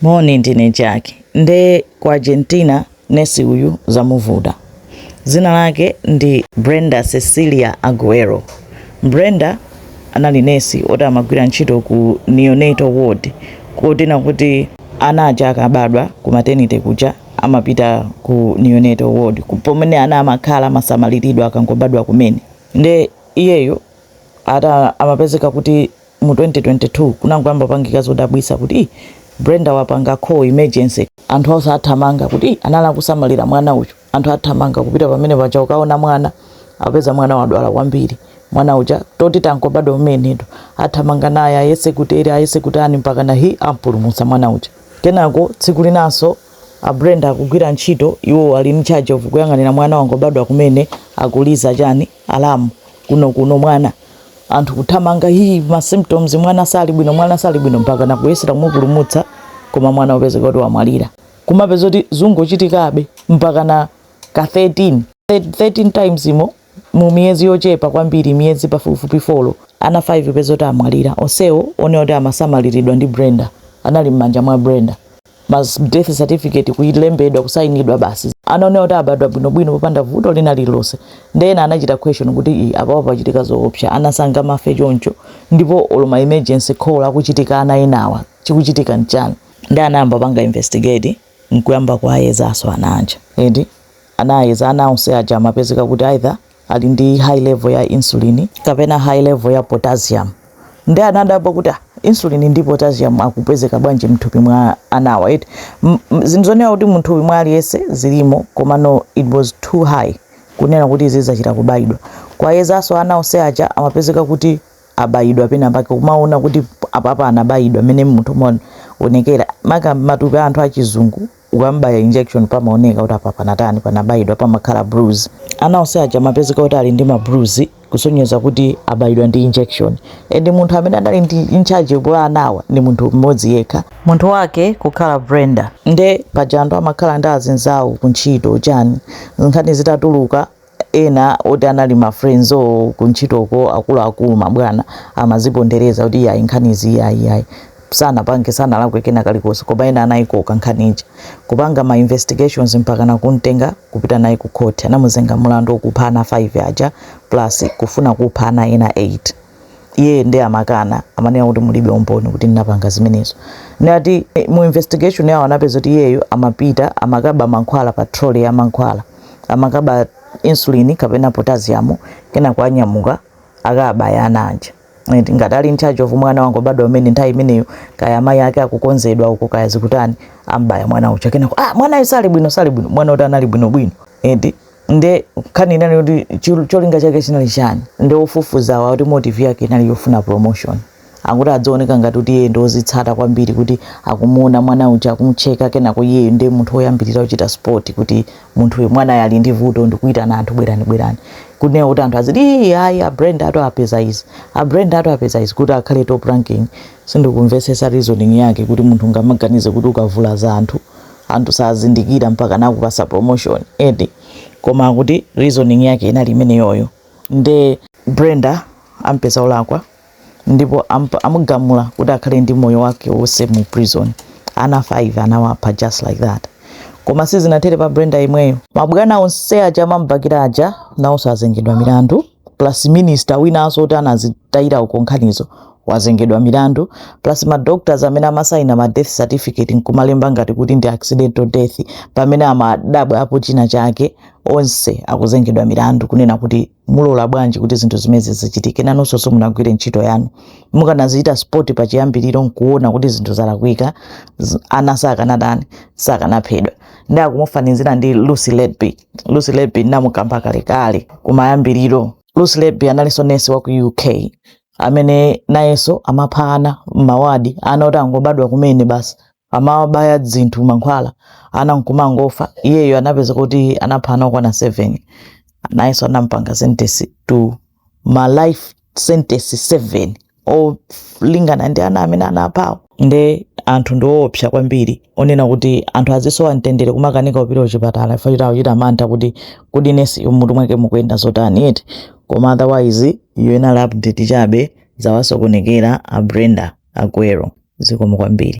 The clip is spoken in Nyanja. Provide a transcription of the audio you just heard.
Moni ndine Jack nde ku Argentina nurse uyu zamuvuta zina lake ndi Brenda Cecilia Aguero Brenda anali nurse oti amagwira ntchito ku neonatal ward kotena kuti ana aja akabadwa ku maternity kuja amapita ku neonatal ward pomene ana amakhala amasamaliridwa akangobadwa kumene nde iyeyo eti amapezeka kuti mu 2022 kunangoyamba kupangika zodabwisa kuti Brenda wapanga call emergency, anthu onse athamanga kuti anali akusamalira mwana uyu, anthu athamanga kupita pamene paja kukaona mwana apeza mwana wadwala kwambiri mwana uja oti wangobadwa kumenetu athamanga naye ayese kuti eti ayese kuti ani mpakana hi ampulumutsa mwana uja kenako tsiku linanso a Brenda akugwira ntchito iwo ali in charge of kuyang'anira mwana wangobadwa kumene akuliza chani Alarm kuno kuno mwana anthu kuthamanga hi ma symptoms mwana sali bwino mwana sali bwino mpakana kuyesera kumupulumutsa koma mwana kupezeka kuti wamwalira kumapeza kuti zikungochitikabe mpakana ka 13 13 times umo mu miyezi yochepa kwambiri miyezi pafupifupi folo ana 5 kupeza kuti amwalira onsewo onenedwa kuti amasamaliridwa ndi Brenda anali m'manja mwa Brenda ma death certificate kuilembedwa kusainidwa basi ana onena kuti abadwa bwinobwino popanda vuto lina lililonse nde ena anachita question kuti i apapa pachitika zoopsa ana sangamafe choncho ndipo olo ma emergency call akuchitika ana enawa chikuchitika nchani nde anayamba kupanga investigate nkuyamba kuayezaso ana aja eti anayeza ana onse aja amapezeka kuti either ali ndi high level ya insulin kapena high level ya potassium nde anadabwa kuti ah, insulin ndi potassium akupezeka bwanji mthupi mwa anawa eti ndi zinthu zonena kuti mthupi mwa aliyense zilimo komano it was too high kunena kuti izi zachita kubayidwa kuwayezaso ana onse aja amapezeka kuti abayidwa pena pake kumaona kuti apapa anabayidwa mmene munthu umaonekera maka matupi a anthu achizungu ukam'baya injection pamaoneka kuti apa panatani, panabayidwa, pamakhala bruise. Ana onse aja amapezeka kuti ali ndi ma bruise kusonyeza kuti abayidwa ndi injection and munthu amene anali in charge wa anawa ndi munthu mmodzi yekha, Munthu wake kukhala Brenda. nde paja anthu amakhala ndi azinzawo kuntchito chani, nkhani zitatuluka ena oti anali ma friends o kuntchitoko akuluakulu mabwana amazipondereza kuti iyayi nkhanizi iyayi iyayi sanapange sanalakwe kena kalikonse koma ena anayikoka nkhani ija kupanga ma investigations mpakana kumtenga kupita naye ku court anamuzenga mulandu wokupha ana 5 aja plus kufuna kupha ana ena 8 iye ndi amakana amanena kuti mulibe umboni kuti ndinapanga zimenezo ndiye eh, mu investigation yawo anapeza kuti iyeyo amapita amakaba mankhwala pa trole ya mankhwala amakaba insulin kapena potassium kenako wanyamuka akabaya ana aja ngati ali in charge of mwana wangobadwa kumene nthawi imeneyo kaya amayi ake akukonzedwa uko kaya zikutani ambaya mwana uja kenako ah mwana sali bwino sali bwino mwana woti anali bwino bwino eti nde nkhani inali kuti chil- cholinga chake chinali chani nde ofufuzawa kuti motive yake inali yofuna promotion akuti azioneka ngati kuti iye ndiwozitsata kwambiri kuti akumuona mwana uja akumcheka kenako iyeyo ndiye munthu woyambirira kuchita spot kuti munthu uyu mwanayo ali ndi vuto nkuitana anthu bwerani bwerani kunena kuti anthu aziti "Ii, ayi a Brenda atapeza izi a Brenda atapeza izi kuti akhale top ranking sindikumvetsetsa reasoning yake kuti munthu ungamaganize kuti ukavulaza anthu anthu sazindikira mpaka nakupasa promotion eti koma akuti reasoning yake inali imeneyoyo nde Brenda ampeza olakwa ndipo amugamula kuti akhale ndi moyo wake wonse mu prison ana 5 anawapha just like that koma sizinathere pa Brenda yemweyo mabwana onse aja amamubakira aja nawonso azengedwa milandu plus minister winanso oti anazitayira uko nkhanizo azengedwa milandu plus ma doctors amene amasaina ma death certificate nkumalemba ngati kuti ndi accidental death pamene amadabwa apo china chake onse akuzengedwa milandu kunena kuti munalola bwanji kuti zinthu zimenezi zichitike nanonso simunagwire ntchito yanu mukanazichita spot pachiyambiriro nkuona kuti zinthu zalakwika z- ana sakanadani sakanaphedwa nde akumufanizira ndi lucy letby lucy letby namukamba kalekale kumayambiriro lucy letby analinso nesi wa ku uk amene nayenso amapha ana m'mawadi ana oti angobadwa kumene basi amawabaya zinthu mankhwala ana nkumangofa iyeyo anapezeka kuti anapha ana okwana 7 nayenso anampanga sentence to ma life sentence 7 olingana ndi ana amene anaphawo nde anthu ndiwoopsa kwambiri kunena kuti anthu azisowa mtendere kumakanika kupita kuchipatala chifukwa choti akuchita mantha kuti kodi nesi uyo mutu mwake mukuyenda zotani eti koma otherwise iyo inali update chabe zawasokonekera a brenda aguero zikomo kwambiri